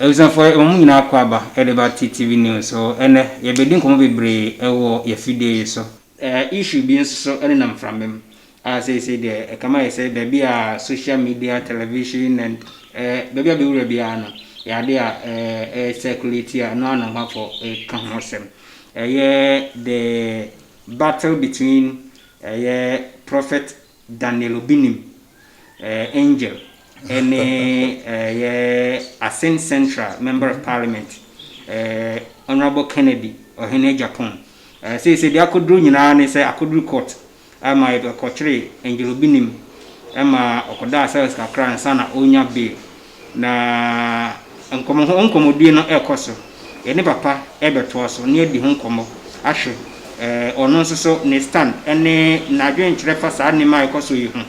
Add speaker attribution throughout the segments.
Speaker 1: Abusuafo, yɛma mo nyinaa akwaaba de ba TTV News so. Ɛnnɛ, yɛbɛdi nkɔmmɔ bebree wɔ yɛn afidie yi so. Issue bi nso so nenam mframa mu a seesei deɛ ɛkame ayɛ sɛ baabi a social media, television and baabi a bɛwura biara no, ɛyɛ adeɛ a ɛyɛ circulate a ɛno ara na ahwɛfoɔ reka ho asɛm. Ɛyɛ the battle between ɛyɛ Prophet Daniel obi nim eh, angel ɛne eh, yɛ asen central member of parliament eh, honorable kennedy ɔhene japan eh, sei sɛ deɛ akɔduru nyinaa ne sɛ akɔduru court ɛma ɛkɔkyere angel obi nim ɛma ɔkɔdaa cells kakra nsa na ɔnya bail Na nkɔmmɔ ho nkɔmmɔdie no rekɔ so. Yɛne papa rebɛtoa so ne adi ho nkɔmmɔ ahwɛ eh, ɔno nso so ne stand ne n'adwenkyerɛ fa saa nneɛma a ɛkɔ so yi ho.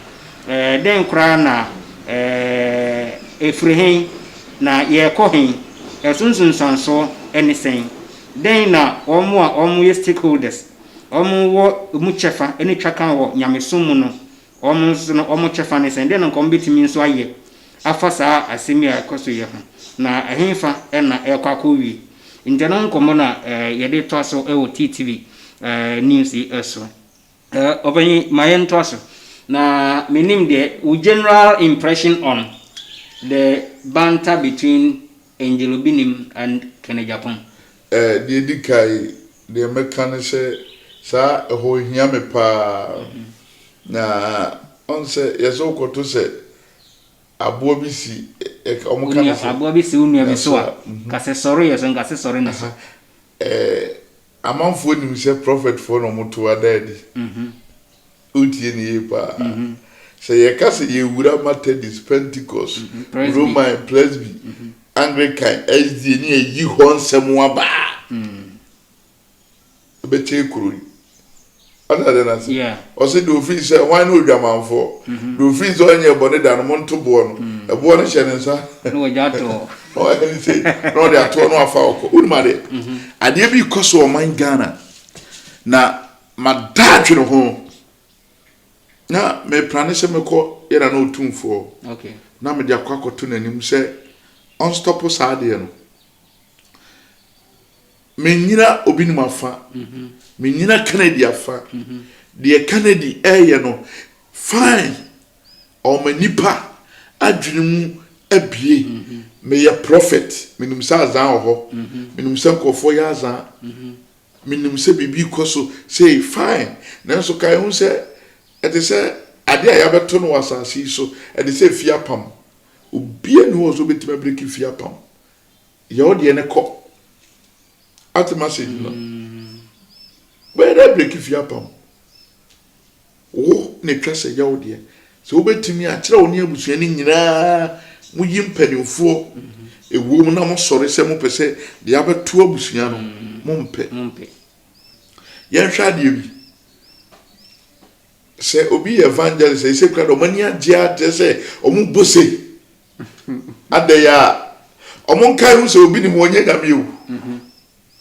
Speaker 1: Eh, dɛn koraa na eh, ɛfiri he na yɛrekɔ he? Ɛso nsunsuansoɔ ne sɛn? Dɛn na wɔn a wɔyɛ stakeholders, wɔn wɔ mu kyɛfa ne twakan wɔ nyamesom mu no Wɔn nso no, wɔn kyɛfa ne sɛn? Dɛn na anka wɔbetumi nso ayɛ afa saa asɛm yi a ɛkɔ so yi ho, na ɛhefa na ɛrekɔ akowie? Enti ɛno ho nkɔmmɔ na yɛde toa so wɔ TTV News yi so. Ɔpanyin, ma yɛntoa so. Na menim deɛ, wo general impression on the banter between Angelo Binim and Kenneth Djapong. Eh, deɛ ɛdi
Speaker 2: kan, deɛ mɛka ne sɛ, saa ɛhɔ hia me pa ara. Na ɔn sɛ yɛ sɛ wokɔto sɛ aboa bi si, wɔn ka ne sɛ. Aboa bi si wo nua bi so a,
Speaker 1: ka sɛ sɔre yɛ so, nka sɛ sɔre ne so. Eh, Amanfoɔ
Speaker 2: nim sɛ prɔfɛtfoɔ na wɔto ada adi. Wotie no yie pa ara. Sɛ yɛka sɛ yɛwura Matadist, Pentecost, Roman, Presby, Anglican, SDA ne yɛyi hɔ nsɛm aba a, ɛbɛkyɛn kuro yi. Ɔte ade no ase. Ɔse deɛ ɔfiri
Speaker 1: sɛ
Speaker 2: hwan ne odwamanfoɔ? Deɛ ɔfiri sɛ ɔnyɛɛ bɔne da no, monto boɔ no. Ɛboɔ no hyɛ ne nsa. Na ɔde ato
Speaker 1: hɔ. Ɔyɛ ne sei,
Speaker 2: na ɔde ato hɔ na wafa ɔkɔ. Wonim adeɛ? Adeɛ bi rekɔ so wɔ ɔman Ghana, na mada adwene ho. Na meplane sɛ mɛkɔ yɛn nana Otumfoɔ na mede
Speaker 1: akɔ
Speaker 2: akɔto n'anim sɛ ɔnstɔpo saa adeɛ no. Mennyina obinom afa, mennyina Kennedy afa, deɛ Kennedy reyɛ no fine, ɔma nnipa adwene mu abue, meyɛ prɔfɛt, menim sɛ azaa wɔ hɔ, menim sɛ nkurɔfoɔ yɛ azaa, menim sɛ biribi rekɔ so sei, fine, nanso kae ho sɛ ɛte sɛ adeɛ a yɛabɛto no wɔ asase yi so, ɛte sɛ fie apam, obiara nni hɔ a ɔsɛ sɛ ɔbɛtumi abireki fie apam. Yɛ wo deɛ ne kɔ. Ate message no? Bɛyɛ dɛ breki fie apam wo na ɛtwa sɛ yɛ wo deɛ. Sɛ wobɛtumi a, kyerɛ wo ne abusua no nyinaa mo yi mpanimfoɔ ɛwɔ mu na mo sɔre sɛ mopɛ sɛ deɛ abɛto abusua no mompɛ. Yɛnhwɛ adeɛ bi. Sɛ obi yɛ evangelist ɛsɛ kura dɛ wɔn ani agye a kyerɛ sɛ wɔn bo se adɛ yɛ a wɔn nkae ho sɛ obi nim wɔn nyɛ nyame o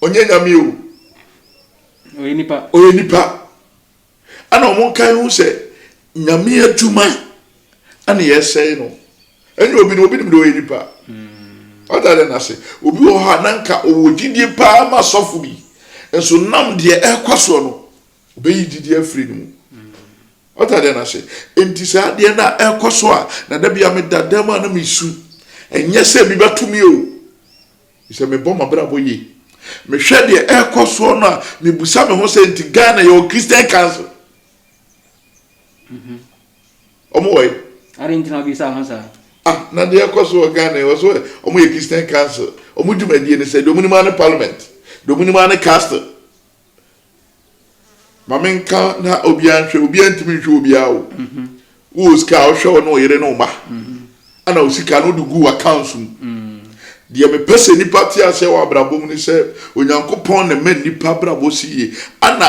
Speaker 2: ɔnyɛ nyame o ɔyɛ nipa ɔyɛ nipa ɛna wɔn nkae ho sɛ nyame adwuma ɛna yɛ sɛe no ɛnyɛ obi no obi nim de ɔyɛ nipa ɔda dɛ n'ase obi wɔ hɔ a nanka ɔwɔ gyidie paa ma sɔfo bi nso nam deɛ ɛkɔ soɔ no Obeyi gyidi afiri ne mu. Ɔte adeɛ no ase. Enti saa adeɛ no a ɛkɔ so a, na da bi a meda dam a na mesu. Ɛnyɛ sɛ ebi bɛto me o. Sɛ mebɔ m'abrabɔ yie. Mehwɛ deɛ ɛkɔ soɔ no a, mebusa me ho sɛ nti Ghana yɛwɔ Christian Council. Mm-hmm. Ɔmo wɔ yi. Ade nti na ɔbisa
Speaker 1: ho saa. Ah, na deɛ ɛkɔ
Speaker 2: so wɔ Ghana wɔ so ɔmo yɛ Christian Council. Ɔmo dwumadie ne sɛ deɛ ɔmo nim ara ne parliament, deɛ ɔmo nim ara ne castle. ma menka na obiara nhwɛ obiara ntumi nhwɛ obiara o mhm. wowɔ sika a wohwɛ wo ne wo yere ne wo ma mhm. ana wo sika no wode gu w'accounts mu mhm. deɛ mepɛ sɛ nnipa te aseɛ wɔ abrabɔ mu ne sɛ onyankopɔn na ma nnipa abrabɔ si yie ana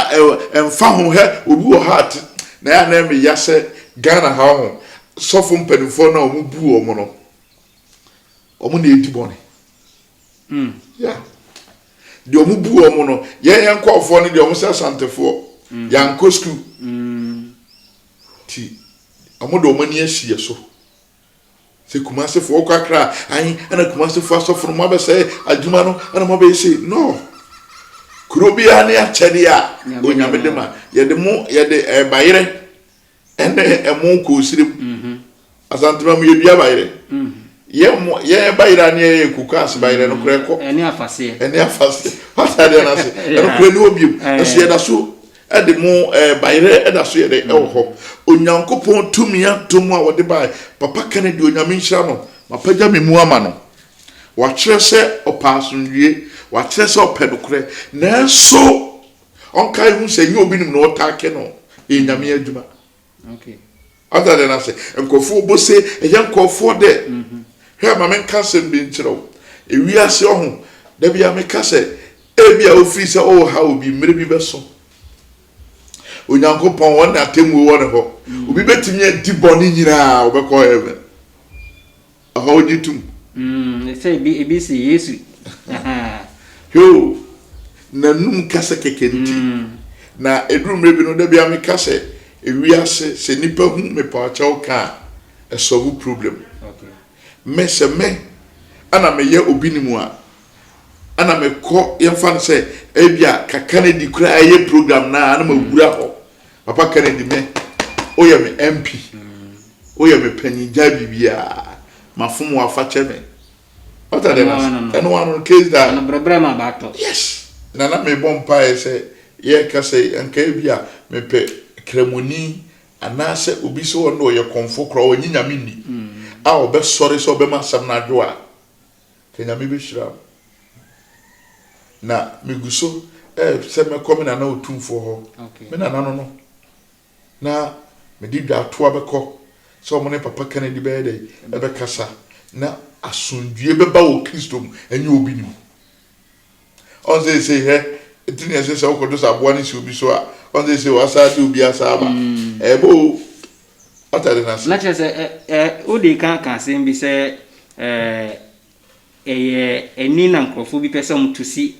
Speaker 2: ɛmfa ho hɛ obi wɔ ha ate na yɛ anaa meya sɛ ghana ha ho sɔfo mpanimfoɔ no a wɔbu wɔn no wɔn na ɛdi bɔne Hmm. Yeah. Deɛ ɔmo bu ɔmo no, yɛn yɛn nkɔɔfoɔ no deɛ ɔmo sɛ asantefoɔ. Mm. Yankɔ sukuu. Mm. Ti ɔmo de ɔmo ani asi yɛ so. Sɛ kumasefoɔ ɔkɔ akra ayi ɛna kumasefoɔ asɔfo no mo abɛsɛ adwuma no ɛna mo abɛyɛ sei no. Kuro biara ne akyɛdeɛ a onyame de ma yɛde mo yɛde ɛɛbayerɛ. Eh, Ɛne ɛmo kɔ osire mu. Asantema mu yɛdua bayerɛ. Yɛn bayerɛ a ne yɛyɛ yɛ koko ase bayerɛ no korɛ kɔ. Ɛne afaseɛ. Ɛne
Speaker 1: afaseɛ. Wate
Speaker 2: adeɛ no ase. Ɛno korɛ ne hɔ biom. Nso yɛda so de mo bayerɛ da so yɛ dɛ ɛwɔ hɔ. Onyankopɔn tumi adom a wɔde baeɛ. Papa Kennedy Onyame nhyira no. Mapagya me mu ama no. Wakyerɛ sɛ ɔpɛ asomdwoeɛ. Wakyerɛ sɛ ɔpɛ nokorɛ. Nanso Ɔnkae hu sɛ ɛnyɛ obinom na ɔtaa kɛ no yɛ nyame adwuma.
Speaker 1: Ɔda dɛ na
Speaker 2: sɛ nkurɔfoɔ ɔbɔ se ɛyɛ nkurɔfoɔ dɛ. Mhm. Hwɛ ma menka asɛm bi nkyerɛ wo. Ewiase ɔho, da bia meka sɛ ebi a ofiri sɛ ɔreha obi mmerɛ bi bɛso. Onyankopɔn ɔne atemmuo wɔ ne hɔ. Mhm. Obi bɛtumi adi bɔne nyinaa ɔbɛkɔ heaven. Aha wogye tom. Mm, sɛ ebi,
Speaker 1: ebi se Yesu. Heo,
Speaker 2: n'anum kasa kɛkɛ nti. Mm. Na eduru mmerɛ bi no, da biara meka sɛ, ewiase, sɛ nipa hu mepawkyɛw ka a, ɛsɔlvo problem.
Speaker 1: Okay. Me, sɛ me,
Speaker 2: ɛna meyɛ obi ne mu a, ɛna mekɔ, yɛmfa no sɛ, ebia kaka no adi koraa ɛyɛ program no a, ɛna mawura hɔ. Mm. Papa Kennedy me woyɛ me MP woyɛ me panyin gya biribiara mafom wo afa kyɛ me wata dɛ na ɛno wa no case da ɛno brɛbrɛ ma baatɔ yes na na mebɔ mpaeɛ sɛ yɛka sɛ anka bi a mepɛ kramoni anaasɛ obi sɛ ɔno ɔyɛ kɔmfo koraa ɔnye nyame nni a ɔbɛsɔre sɛ ɔbɛma asɛm no adwo a Sɛ Nyame bɛhyira wo. Na megu so sɛ mɛkɔ me nana Otumfoɔ hɔ. Me nana no no na mede dwatoa bɛkɔ sɛ wɔn ne Papa Kennedy bɛyɛ dɛ ɛbɛkasa na asomdwie bɛba wɔ Kristo mu ɛnyɛ obi ne mu. Ɔn seisei hwɛ eti na ɛsɛ sɛ wokɔ do sɛ aboa no si obi so a, ɔn seisei wɔasaa de obi asaa aba. Ɛɛbɔ o. Atade no ase. Na kyerɛ sɛ, ɛ,
Speaker 1: ɛ, wode ka ka asɛm bi sɛ, ɛ, ɛyɛ ani na nkurɔfo bi pɛ sɛ wɔto si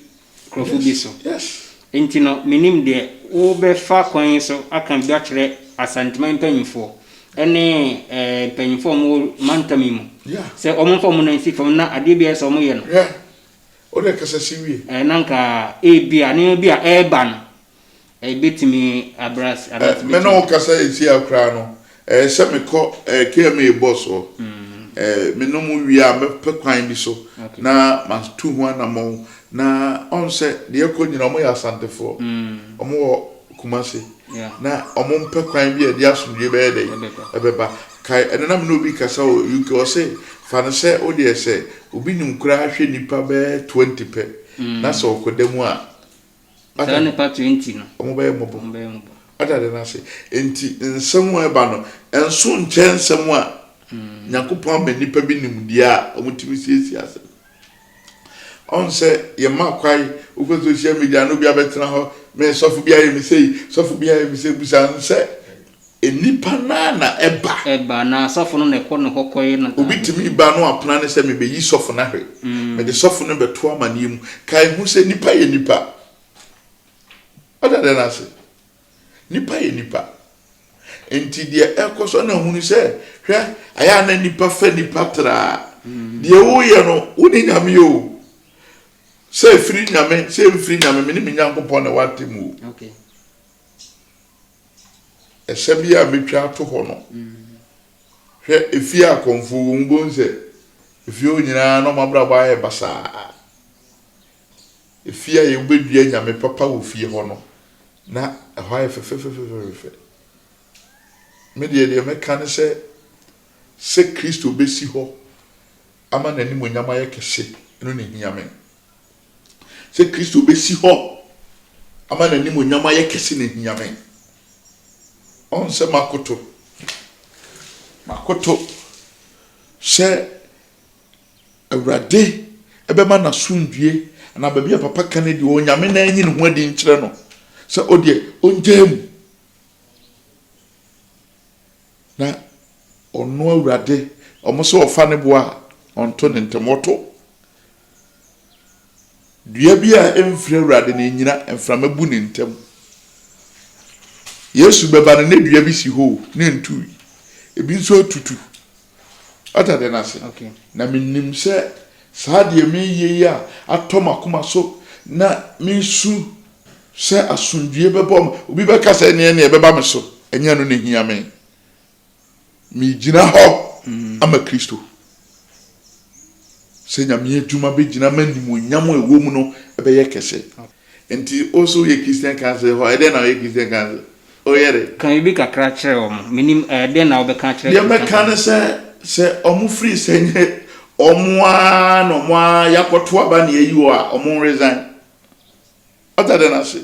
Speaker 1: nkurɔfo bi so. Yes, yes. Enti no,
Speaker 2: mennim
Speaker 1: deɛ wobɛfa kwan yi so aka bi akyerɛ Asanteman mpanimfoɔ ne, ɛ, mpanimfoɔ a wɔwɔ mantam yi mu. Yeah. Sɛ wɔmfa wɔn nan nsi fam na adeɛ biara a ɛsɛ sɛ wɔyɛ no, Yeah. Wo na
Speaker 2: kasa si wie. Ɛɛ, na anka
Speaker 1: ebia nneɛma bi a ɛreba no, ebetumi abrɛ ase, anaa ɛtumi Me ne wo kasa
Speaker 2: seesei ara koraa no, ɛyɛ sɛ mekɔ ɛɛ KMA bɔs hɔ. Ɛɛ, menom wie a, mɛpɛ kwan bi so na matu ho anammɔn. Na ɔn sɛ deɛ ɛrekɔ nyinaa, wɔyɛ Asantefoɔ, wɔwɔ Kumasi, na wɔmpɛ kwan bi a ɛde asomdwoeɛ bɛyɛ dɛn? Ɛbɛba. Kae, ɛnnɛ na me ne obi rekasa wɔ UK, ɔse, Fa no sɛ wo deɛ sɛ obi nim koraa hwɛ nnipa bɛyɛ twenty pɛ na sɛ ɔkɔda mu a, wate Saa ase?
Speaker 1: nnipa twenty no, Wɔn bɛyɛ mmɔbɔ. wɔn bɛyɛ mmɔbɔ.
Speaker 2: Wate ade no ase? Enti nsɛm a ɛba no, ɛnso nkyɛn nsɛm a Nyankopɔn ama nnipa bi nimdeɛ a wɔtumi siesie asɛm. Ɔn sɛ yɛma kwae wokɔ social media na obi abɛtena hɔ me sɔfo bi ayɛ me sei sɔfo bi ayɛ me sei busa no sɛ nnipa no ara na ɛba. Ɛba anaa sɔfo no na ɛkɔ
Speaker 1: ne hɔ kɔyɛ no. Obi tumi ba na wapena
Speaker 2: ne sɛ mebeyi sɔfo no ahwɛ mede sɔfo no bɛto amanneɛ mu. Kae hu sɛ nnipa yɛ nnipa. Wada dɛn ase? Nnipa yɛ nnipa. Nti deɛ ɛkɔ so na hunu sɛ hwɛ ayɛ a na nnipa fɛ nnipa traa. Mm. Deɛ woyɛ no wo ne nyame o. Sɛ ɛfiri nyame sɛ ɛmfiri nyame me ne me nyankopɔn na woate mu o.
Speaker 1: Okay.
Speaker 2: Ɛsɛ bi a mɛtwa ato hɔ no. Mm. Hwɛ ɛfie akɔmfoɔ wɔ mu bom sɛ ɛfie hɔ nyinaa na ɔmabrabɔ ayɛ basaa. Efie a wobedua nyame papa wɔ fie hɔ no, na ɛhɔ ayɛ fɛfɛfɛfɛfɛfɛ. Me deɛ, deɛ mɛka ne sɛ, sɛ Kristo besi hɔ ama n'animuonyam ayɛ kɛse, ɛno na ehia me. Sɛ Kristo besi hɔ ama n'animuonyam ayɛ kɛse na ehia me. Ɔn sɛ makoto, makoto sɛ Awurade bɛma n'asomdwie anaa baabi a papa ka no adi wɔ Onyame na anyi ne ho adi nkyerɛ no sɛ ɔdeɛ ɔngyaa mu. Na ɔno Awurade, ɔmo sɛ ɔfa ne boa a, ɔnto ne ntɛm, ɔto. Dua bi a ɛmfiri Awurade no ɛnyina, mframa bu ne ntɛm. Yesu bɛba no ne dua bi si hɔ o, ne ntui, ebi nso atutu, Wate adeɛ no ase? Okay. Na menim
Speaker 1: sɛ
Speaker 2: saa deɛ mereyɛ yi a atɔ m'akoma so na mesu sɛ asomdwoeɛ bɛbɔ ma obi bɛka sɛ ɛneɛ neɛ ɛbɛba me so ɛnyɛ no na hia me megyina hɔ mm. ama kristo sɛ nyame adwuma bɛgyina ma nimonyam a ɛwɔ mu no ɛbɛyɛ kɛse okay. Nti wo so woyɛ Christian council hɔ a, dɛn na ɔyɛ Christian council? Woyɛ dɛ? Ka biribi kakra kyerɛ
Speaker 1: wɔn. Mennim, ɛɛ, dɛn na wobɛka akyerɛ Deɛ Christian mɛka ne council?
Speaker 2: sɛ, sɛ wɔn firi sɛ nyɛ wɔn ara na wɔn ara yɛakɔto aba na yɛayi wɔn a, wɔn nresign. Wate adeɛ no ase?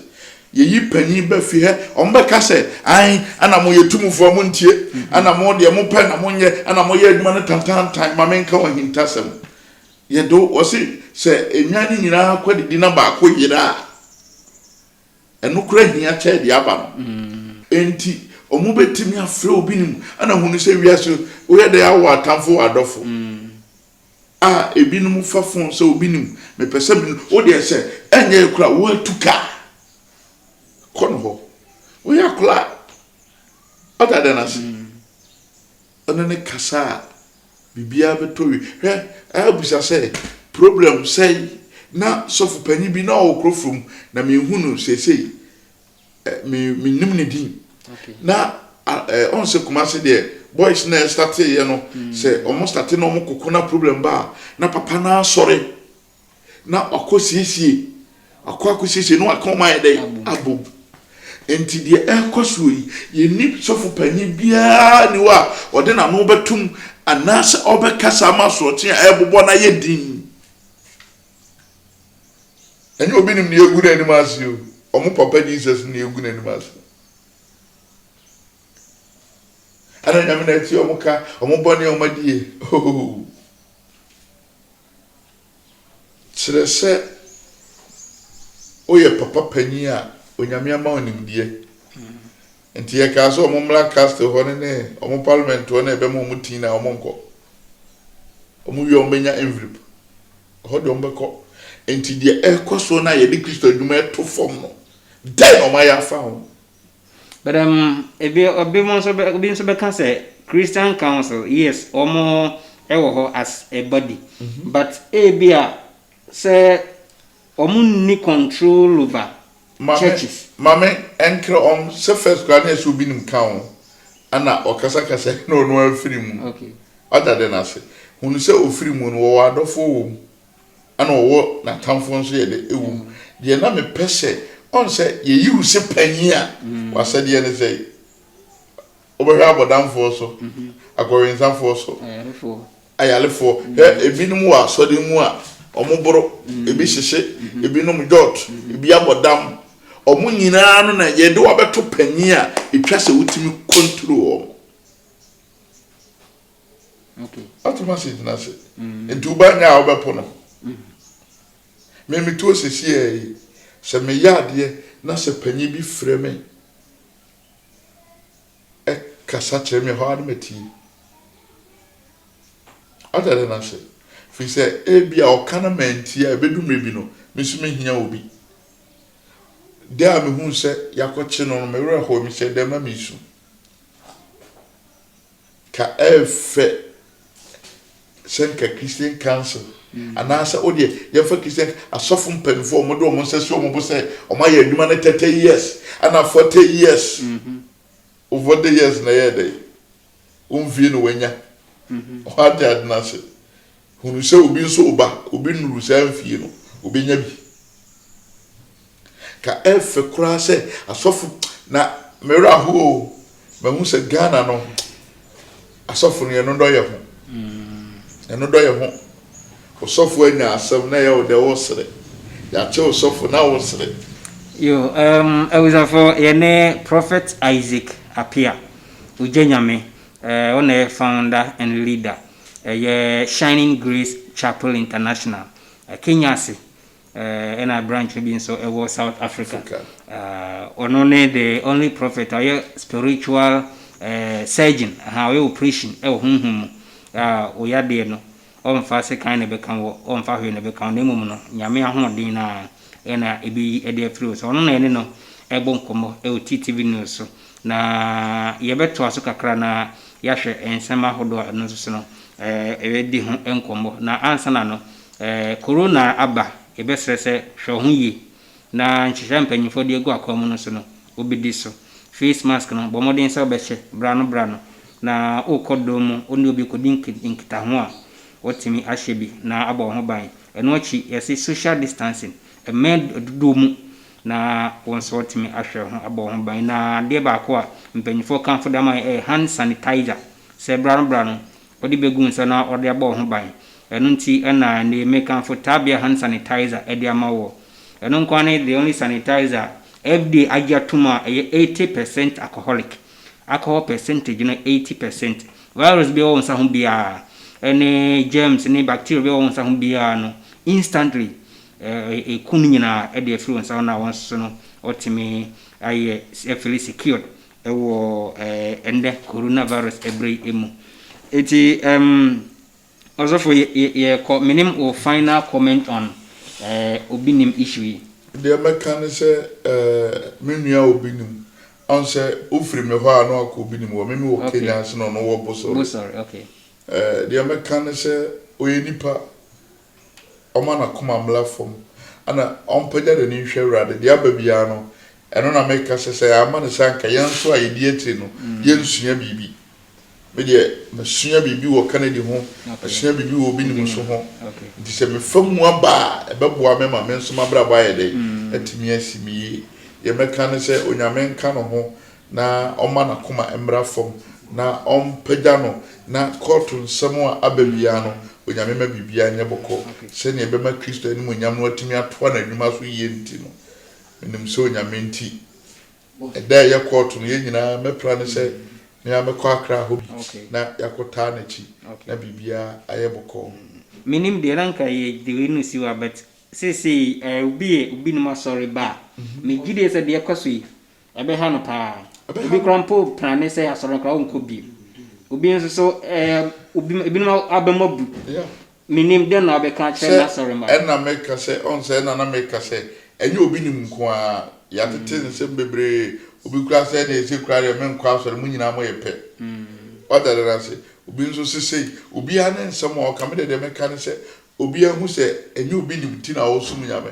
Speaker 2: Yɛyi panin ba fie hɛ, wɔn bɛka sɛ, ae, ɛna mo yɛ tumfoɔ a montie, ɛna mo deɛ mopɛ na monyɛ, ɛna moyɛ adwuma no tantaantan, ma menka wɔn ahintasɛm. Yɛ do, wɔse sɛ enwa no nyinaa kɔdidi na baako yera a, ɛno koraa hia kyɛɛ deɛ aba no. Enti wɔbɛtumi afrɛ obi no mu na ahunu sɛ wiase woyɛ dɛn awo atamfo wɔ adɔfo a ebinom fa fon sɛ obi nim mepɛ sɛ mene wo deɛ sɛ ɛnyɛ yɛ koraa woatu ka a kɔ no hɔ woyɛ akora a ɔda dɛn ase. Ɔne no kasa a, biribiara bɛtɔ yie. Hwɛ, abisa sɛ, Problem sɛn na sɔfo panyin bi na ɔwɔ kuro fam na menhu no seesei? Ɛ, me, mennim ne din. Okay. Na
Speaker 1: a,
Speaker 2: ɛ, ɔn sɛ Kumase deɛ, boys na ɛstarteeɛ no, mm. sɛ wɔn starte na wɔn koko na problem ba a, na papa no asɔre. na wakɔ siesie akɔ akɔ siesie na waka wɔn ayɛ dɛ abom nti deɛ ɛrekɔ soɔ yi yɛnni sɔfo panyin biara ni hɔ a ɔde n'ano bɛtum anaasɛ ɔbɛkasa ama asorɔkye a ɛrebobɔ no ayɛ din ɛnyɛ obi nim deɛ egu n'anim ase o wɔn papa jesus ne egu n'anim ase ɛna nyame na ɛte wɔn ka wɔn bɔ ne wɔn adie ooo. Kyerɛ sɛ woyɛ papa panyin a Onyame ama wo nimdeɛ. Nti yɛkaa sɛ wɔn mmra Castle hɔ no ne wɔn Parliament hɔ na yɛbɛma wɔn tin na wɔnkɔ. Wɔn wie a wɔbɛnya envelope. Ɛhɔ deɛ wɔbɛkɔ. Nti deɛ ɛrekɔ soɔ no a yɛde Kristo adwuma reto fam no, dɛn na wɔayɛ afa ho? But um,
Speaker 1: ebi, ebi mo nso, ebi nso bɛka sɛ Christian Council, yes, wɔn wɔ hɔ as a body, mm -hmm. but ebi a sɛ wɔn nni control over mame, churches. Maame
Speaker 2: ɛnkrɛ wɔn sɛ first kura ne ɛsɛ obi nim ka ho ɛna ɔkasakasa na ɔno afiri mu. Okay. Ɔda de
Speaker 1: n'ase.
Speaker 2: Hunu sɛ ofiri mu no wɔwɔ adɔfoɔ wɔ mu. ɛna ɔwɔ n'atamfoɔ nso yɛ dɛ ɛwɔ mu deɛ na mepɛ sɛ ɔn sɛ yɛyi wo sɛ panyin a mm. wasɛdeɛ ne sɛ wobɛhwɛ abɔdamfoɔ so mm-hmm. akɔwensafoɔ so ayalefoɔ mm. hwɛ ebinom wɔ asɔre mu a wɔn boro mm. ebi hyehye mm-hmm. ebinom jɔt mm-hmm. ebi abɔdam wɔn nyinaa no na yɛde wabɛto panyin a etwa sɛ wotumi kɔntro wɔn.
Speaker 1: Atoma ase gyina ase.
Speaker 2: Nti woba nyɛ a wobɛpo no. Me me tuo sesiaa yi, sɛ me yɛ adeɛ na sɛ panyin bi frɛ me kasa kyerɛ me ɛhɔ a na matie. Ata dɛ na se. Firi sɛ ebi a ɔka na mantie a ɛbɛdu mmerɛ bi no, me nso mehia obi. Dɛ a mehuu sɛ yɛakɔkye no no, me werɛ hooe, mehyɛɛ dɛm ma meresu. Ka ɛyɛ fɛ sɛ nka Christian Council anaasɛ o deɛ yɛmfa Christian asɔfo mpanyinfoɔ a wɔde wɔn nsa si wɔn bo sɛ wɔayɛ adwuma no thirty years ɛna forty years o forty years na ɛyɛ dɛ wɔnwie na wɔanya wɔn ade ade no ase. Hunu sɛ obi nso reba, obi nnuruu saa mfie no, obenya bi. Ka ɛyɛ fɛ koraa sɛ asɔfo na me werɛ ahow o, mahu sɛ Ghana no asɔfo no yɛn dɔ yɛn ho, yɛn dɔ yɛn ho. Osɔfo anya asɛm na ɛyɛ wo dɛ wosere, yɛakyɛ osɔfo na wosere. Yo, um,
Speaker 1: abusafo, yɛne Prophet Isaac Appiah, Ogya Nyame, eh, ɔna yɛ founder and leader. Ɛyɛ Shining Grace Chapel International, Kenya ase, ɛna branch no bi nso wɔ South Africa. Ɔno ne the only prophet a ɔyɛ spiritual surgeon, ɔyɛ operation wɔ honhom mu. Wo yadeɛ no, ɔmfa sekan na ɛbɛka wɔ, ɔmfa hwee na ɛbɛka wɔ, na mmom no, Nyame ahoɔden no ara na ɛbɛyi de afiri wo so. Ɔno na yɛne no bɔ nkɔmmɔ wɔ TTV News so. Na yɛbɛtoa so kakra na yɛahwɛ nsɛm ahodoɔ a ɛno nso so no yɛbɛdi ho nkɔmmɔ. Na ansa na no, Corona aba, yɛbɛsrɛ sɛ hwɛ wo ho yie na nhyehyɛeɛ a mpanimfoɔ de agu akwan mu no so no, wobɛdi so. Face mask no, bɔ mmɔden sɛ wobɛhyɛ berɛ ano berɛ ano. Na worekɔ dɔm mu, wo ne obi rekɔdi nkitaho a, woatumi ahyɛ bi na abɔ wo ho ban. Ɛno akyi, yɛse social distancing, mmɛn dodoɔ mu na wo nso woatumi ahwɛ wo ho abɔ wo ho ban. Na adeɛ baako a mpanyinfoɔ kamfo de ama yɛn yɛ hand sanitizer, sɛ bra no bra no wode bɛgu wo nsa na wode abɔ wo ho ban. Ɛno nti na ɛnnɛ mekamfo Tabia hand sanitizer de ama woɔ. Ɛno nko ara ne the only sanitizer a FDA agye atom a ɛyɛ eighty percent alcoholic, alcohol percentage no eighty percent. Virus biara ɛwɔ wo nsa ho biara, ɛne germs ne bacteria biara ɛwɔ wo nsa ho biara no instantly Ekum nyinaa de afiri wɔn nsa, wɔn a wɔso no wɔtumi ayɛ ɛfiri secured wɔ ɛnnɛ coronavirus ɛberɛ yi mu. Eti um, ɔsɔfo yɛkɔ, menim wo final comment on obi nim issue yi. Deɛ mɛka ne
Speaker 2: sɛ eh, me nua obi nim, ɔn sɛ wofiri me hɔ a na wakɔ obi nim hɔ, me mewɔ Kenya nso na ɔno wɔ Bosore. Bosore, okay. Eh,
Speaker 1: deɛ mɛka
Speaker 2: ne sɛ ɔyɛ nipa, ɔma n'akoma mmra fam, na ɔmpagya n'ani nhwɛ Awurade. Deɛ aba biara no, ɛno na meka sɛ, sɛ yɛamma no saa anka yɛn nso a yɛdi akyire no, yɛrensua biribi. Me deɛ, masua biribi wɔ Kennedy ho, masua biribi wɔ obi nim so ho, nti sɛ mefa mu aba a, ɛbɛboa me ma me nso m'abrabɔ ayɛ dɛn? Atumi asi me yie. Deɛ mɛka ne sɛ, Onyame nka ne ho. na ɔmma n'akoma mmra fam na ɔmpagya no na kɔɔto nsɛm a aba biara no, Onyame ma biribiara nyɛ bɔkɔɔ sɛnea ɛbɛma Kristo animuonyam no atumi atoa n'adwuma so yie nti no, menim sɛ Onyame nti, ɛda a ɛyɛ kɔɔto no, yɛn nyinaa, mɛpra ne sɛ me ara mɛkɔ akra hɔ bi na yɛakɔtaa n'akyi na biribiara ayɛ bɔkɔɔ. Menim deɛ, na
Speaker 1: nka yɛ gyidie no siw a, but seesei obi yɛ obinom asɔre ba a, me gyidie sɛ deɛ ɛkɔ so yi, Ɛbɛha no paa. Obi koraa mpo plane sɛ asɔre koraa ɔnkɔ bio. Obi nso so ɛɛ obi ebinom abam abu. Menim dɛn na wobɛka akyerɛ n'asɔre mma. Ɛna meka sɛ ɔn
Speaker 2: sɛ ɛna na meka sɛ ɛnyɛ obi nim nko ara. Yɛatete nsɛm bebree. Obi koraa sɛ ɛna ɛsɛ koraa deɛ menkɔ asɔre mo nyinaa moyɛ pɛ. Wate adeɛ no ase. Obi nso se sei. Obiara ne nsɛm a ɔka. Me deɛ deɛ mɛka ne sɛ obiara nhu sɛ ɛnyɛ obi nim nti na ɔresom Nyame.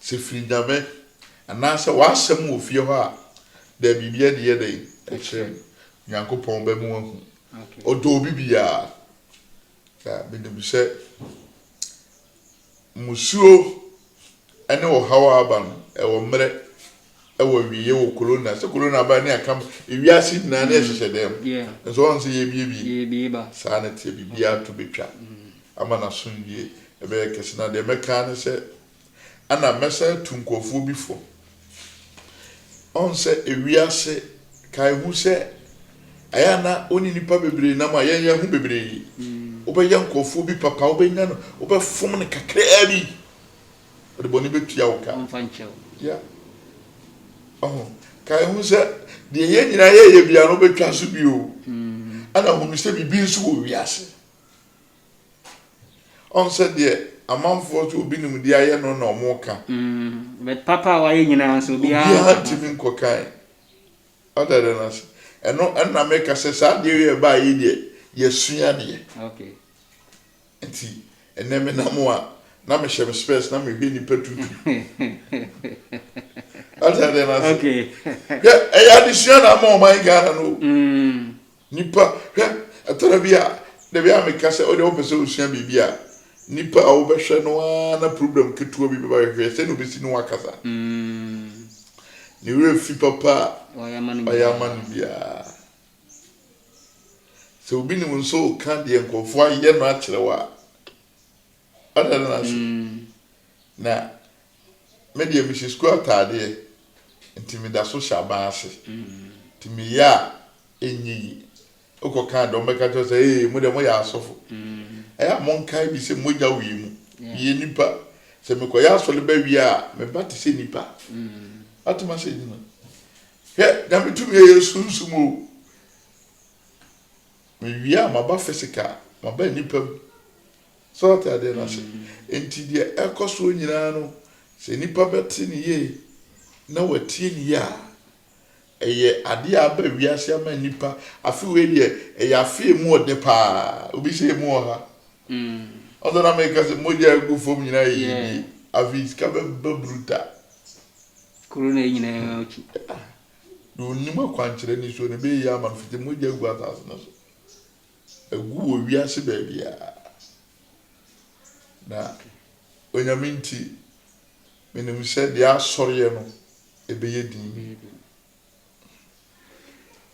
Speaker 2: Sɛ firi Nyame, anaasɛ w'asɛm wɔ fie hɔ a, dɛ biribi ɛde yɛ dɛn? Ɛkyerɛ me. Nyankopɔn bɛ mo ahu. Ɔdɔ obi biara. Na menim sɛ mmusuo ɛne ɔhaw a aba no, ɛwɔ mmerɛ. ɛwɔ awieɛ wɔ Corona sɛ Corona baa ne akam ewiase nyinaa ne ɛhyehyɛ dɛm nso ɔn sɛ yɛbiebie saa ne teɛ
Speaker 1: biribiara
Speaker 2: to bɛtwa ama no asomdwie ɛbɛyɛ kɛse na deɛ mɛkaa ne sɛ ana mɛsan atu nkurɔfoɔ bi fo ɔn sɛ ewiase kae hu sɛ ɛyɛ ana ɔne nipa bebree nam a yɛnyɛ ho bebree wobɛyɛ nkurɔfoɔ bi papa wobɛnya no wobɛfom no kakraa bi Ɔde bɔne bɛtua wo ka. Ɔmfa nkyɛ wo. Ya. Ɔho. Ka ehu sɛ deɛ yɛn nyinaa yɛyɛ biara no bɛtwa so bio. Ɛna mm. hunu sɛ biribi nso wɔ wiase. Ɔn sɛ deɛ amanfoɔ so obi nim deɛ ayɛ no na ɔmo ka. Mm. But
Speaker 1: papa a wayɛ nyinaa nso obiara. Obiara ntumi nkɔ
Speaker 2: kan. Ɔda dɛ no ase. Ɛno ɛna meka sɛ saa deɛ yɛ baa yi deɛ yɛsua deɛ. Okay.
Speaker 1: Nti
Speaker 2: ɛnɛ me nam a na me hyɛ me spɛs na me hwɛ nipa tutu. Ate adeɛ no ase. Okay. Hwɛ
Speaker 1: ɛyɛ
Speaker 2: adesua na ama ɔman Ghana no o. Mm. Nipa hwɛ ɛtɔrɔ bi a dabi a meka sɛ ɔde ɔpɛ sɛ osua biribi a nipa a wobɛhwɛ no a na program ketewa bi bɛba hwehwɛ sɛ na obesi ne ho akasa. Mm. Ne werɛ fi papa a ɔyɛ ama
Speaker 1: no biara.
Speaker 2: Sɛ obi ne wo nso reka deɛ nkurɔfoɔ ayɛ no akyerɛ wo a, ɔda no ase. Mm. Na me deɛ mehyɛ sukuu ataadeɛ, nti meda so hyɛ aban ase. Mm. Nti meyɛ a ɛnyɛ yi. Wokɔ kan deɛ wɔbɛka kyerɛ sɛ ee mo deɛ moyɛ asɔfo. Mm. Ɛyɛ a monkae bi sɛ mogya wɔ yɛ mu. Yeah. Yɛ nipa. Sɛ mekɔyɛ asɔre bɛwie a, meba te sɛ nipa. Mm. Atoma sɛ nyina. Hwɛ, Nyame tumi a ɛyɛ sunsum o! Mewie a, maba physical, maba nnipa mu. So ate adeɛ no ase? Nti deɛ ɛkɔ soɔ nyinaa no, sɛ nipa bɛte ne yie na watie ne yie a, ɛyɛ adeɛ a aba wiase ama nipa. Afe wei deɛ, ɛyɛ afe emu ɔdɛ paa. Obi sɛ emu ɔha. Ɔsɛ na meka sɛ mogya agu fam nyinaa yɛ yie. Afei sika bɛba brutal.
Speaker 1: Kuro no nyinaa akyi. Na
Speaker 2: ɔnnim akwankyerɛ nisuo no, ɛbɛyɛ yie ama no fiti mogya agu asase no so, agu wɔ wiase baabiara. Na Onyame nti, menim sɛ deɛ asɔreɛ no ɛbɛyɛ din.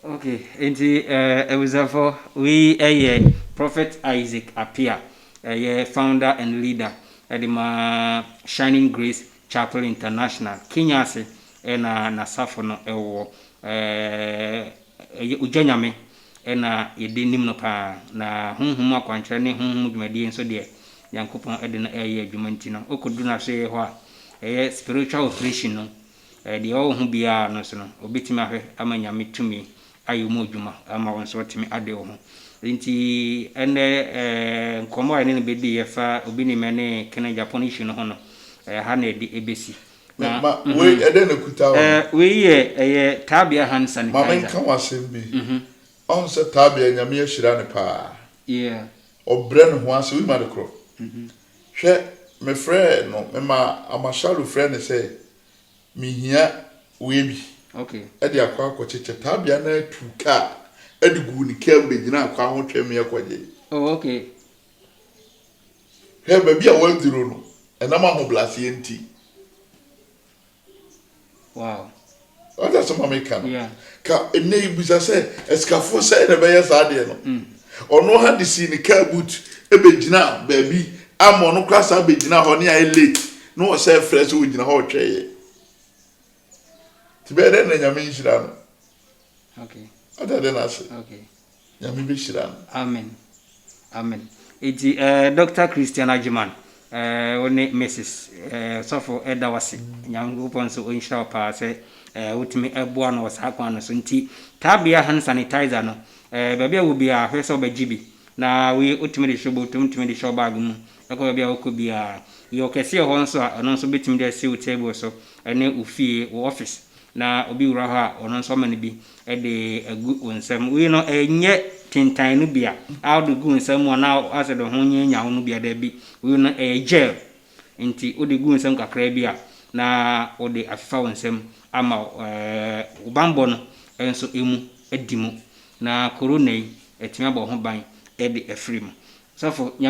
Speaker 1: Okay, nti eh, abusuafo, wei ɛyɛ eh, Prophet Isaac Apia, ɛyɛ eh, founder and leader ɛde eh, ma Shining Grace Chapel International, Kenya ase ɛna eh, n'asafo no ɛwɔ eh, ɛyɛ ogya nyame ɛna yɛde nim no paa na honhom akwankyerɛ ne honhom dwumadie nso deɛ nyankopɔn ɛde no ɛyɛ adwuma nti no wokɔduru no ahwɛyɛ hɔ a ɛyɛ spiritual operation no Ɛɛ, deɛ ɔwɔ ho biara no nso no, ɔbɛtumi ahwɛ ama Nyame tumi ayɛ mu adwuma ama wo nso watumi ade wo ho. Nti ɛnnɛ ɛɛ, nkɔmmɔ a yɛne no bɛdiiɛ fa Obi Ni Mɛ ne Kene Japan issue no ho no, ɛɛ, ha na ɛde ɛbɛsi. Na, Ma, ma, mhm, wei,
Speaker 2: ɛdɛn na ɛkuta wo no? Ɛɛ, wei yɛ, ɛyɛ
Speaker 1: Tabia hand sanitizer. Ma menka wo asɛm bi.
Speaker 2: Mhm. Ɔhu sɛ Tabia, Nyame ahyira no paa. Yeah. Ɔbrɛ ne ho ase, wonim ade korɔ? Mhm. Hwɛ, mefrɛɛ no, memaa Amashalu frɛɛ no sɛ, Mehia wei bi de akɔ
Speaker 1: akɔkyekyɛ.
Speaker 2: Tabea no ara tuu kaa de guu ne kaa mu bɛgyinaa kwan ho twɛmmeɛ kɔgyee. Oh, okay. Hwɛ, baabi a wɔaduro no, ɛnam ahobrɛaseɛ nti.
Speaker 1: Wow. Wata sɛ
Speaker 2: ma meka no ka ɛnɛ yi bisa sɛ asikafoɔ sɛ na ɛbɛyɛ saa adeɛ no mm. ɔno ha de sii ne car boot ɛbɛgyina baabi ama ɔno kora saa bɛgyina hɔ ne ayɛ late na ɔsɛ frɛ sɛ ɔgyina hɔ ɔtwɛeɛ nti bɛyɛ dɛ na nyame nhyira no
Speaker 1: wata dɛ no ase
Speaker 2: Nyame bɛhyira no. Amen
Speaker 1: Amen Enti eh Doctor Christian Agyeman eh wo ne Mrs eh Sɔfo ɛda wo ase Nyankopɔn nso ɔnhyira wo paa sɛ eh wotumi ɛboa no wɔ saa kwan no so Nti Tabea Hand Sanitizer no eh baabi a wo biara hwɛ sɛ wobɛgye bi na wei wotumi de hyɛ wo bɔtɔ mu wotumi de hyɛ wo bag mu ɛkɔ baabi a wokɔ biara Yɛ ɔkɛseɛ hɔ nso a ɛno nso bɛtumi de asi wo table so ɛne wo fie wo office na obi wura hɔ a, ɔno nso ɔma no bi de agu wo nsam. Wei no, ɛnyɛ tintan no bi a wode gu wo nsa mu anaa asɛ de ho nyɛ nyaw no bi a, dabi. Wei no, ɛyɛ gel, enti wode gu wo nsam kakraa bi a, na wode afefa wo nsam ama wo bammɔ no nso mu adi mu, na korona yi, atumi abɔ ho ban de afiri mu. Sɔfo, Nyame.